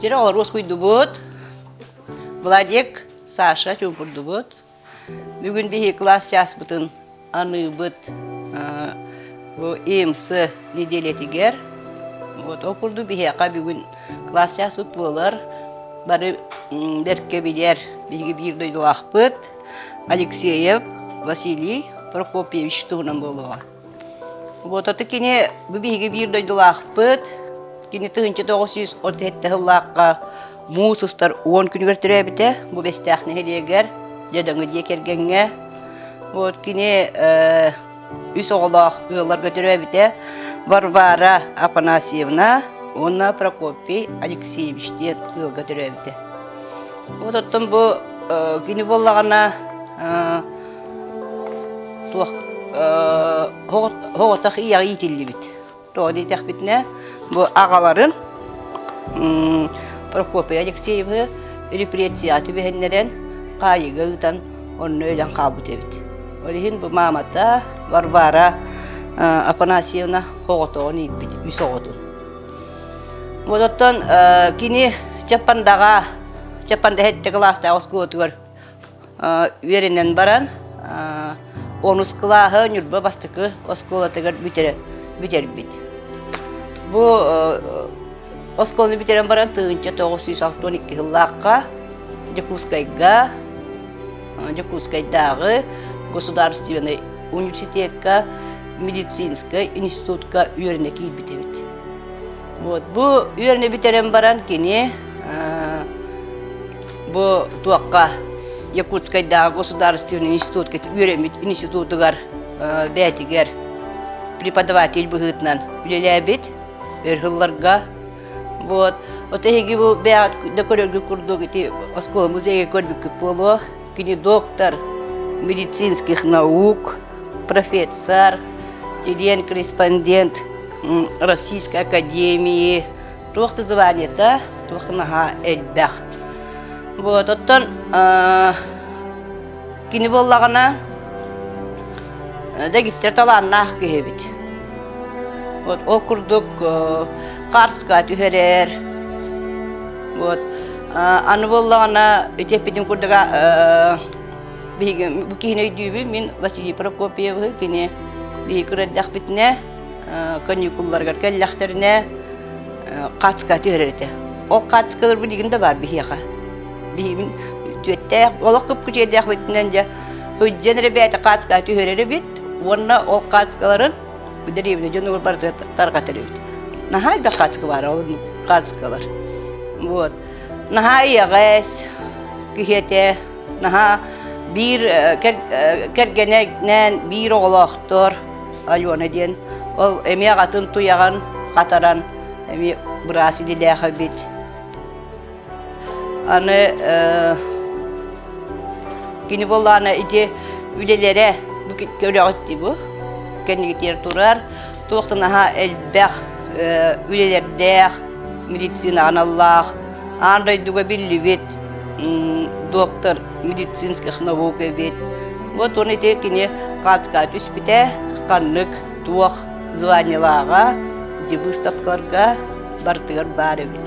Тире олор ускуйдубут. Владик, Саша чуупурдубут. Бүгүн биһи класс часпытын аныыбыт бу ИМС неделятигер. Вот ол курду биһиэхэ бүгүн класс часпыт буолар. Бары берке билер биһиги биир дойдулаахпыт Алексеев Василий Прокопьевич туһунан болуға. Вот это кини бу биһиги биир дойдулаахпыт. Кини тыһынча тоғыз сүүс отuz сэттэ сыллаахха муус устар уон күнүгэр төрөөбүтэ бу Бэстээх нэһилиэгэр дьадаҥы дьиэ кэргэҥҥэ. Вот кини э, үс оҕолоох ыалларга төрөөбүтэ Варвара Афанасьевна уонна Прокопий Алексеевич диэн ыалга төрөөбүтэ. Вот оттон бу э, кини буоллаҕына э, Туох оҕотох ийэҕэ иитиллибит. Тоҕо диэтэхпитинэ, бу аҕаларын Прокопий Алексеевы репрессияҕа түбэһиннэрэн, хаайыыга ыытан, онно өлөн хаалбыт эбит. Ол иһин бу маамата Варвара Афанасьевна оҕотоҕун ииппит, үс оҕотун. Вот оттон кини Чапандаҕа, Чапанда һэтте кылаастаах оскуолатыгар үөрэнэн баран онус кылааһы Ньурба бастакы оскуолатыгар бүтэрбит. Бу оскуоланы бүтэрэн баран тыһыынча тоҕус сүүс алты он икки сыллаахха Дьокуускайга Дьокуускайдааҕы государственнай университекка медицинскэй институтка үөрэнэ киирбит эбит. Вот, бу үөрэнэ бүтэрэн баран кини бу туохха Якутскайдааҕы государственный институт үөрэммит институтугар бээтигэр преподаватель быһыытынан үлэлээбит өр сылларга вот вот эһиги бу бэйэҕит да көрөргүт курдук ити оскуола музейга көрбүккүт буолуо Кини доктор медицинских наук, профессор, студент-корреспондент Российской Академии туох да званиета, туох да наһаа элбэх. Вот, оттон кини боллагана дэгиттер талааннаах киһи эбит. Вот ол курдук карска түһэрэр, вот Аны буоллаҕына, үтүөппүтүн курдуга биһиги бу киһини өйдүүбүн мин Василий Прокопьевы кини биһиги күрэрдэхпитинэ каникулларыгар кэллэхтэринэ хаацка түһэрэр этэ. Ол хаацкалар билигин да баар биһиэхэ. Биһигин түөттээх, олох кыпкытиэдээх битинэн дьэ сылдьан эрэ бэйэтэ хаацка түһэрэр эбит уонна ол хаацкаларын дэриэбинэ дьонугар бары тарҕатар эбит. Наһаа элбэх хаартыска баара ол хаартыскалар. Вот. Наһаа ийэҕэс киһиэтэ наһаа биир кэргэнэнэн биир оҕолоохтор Алена диэн ол эмиэ атын туйаҕын хатаран эмиэ быраас илиилээх эбит Аны кини боллаана ити үлелерэ бу көрөҕүт дии бу кэннигитигэр турар туохтан аһа элбэх үлелэрдээх медицина аналлаах аан дойдуга биллибит доктор медицинских наук эбит вот он ити кини хаацкаа түспүтэ ханнык туох званиелааҕа выставкаларга барытыгар баар эбит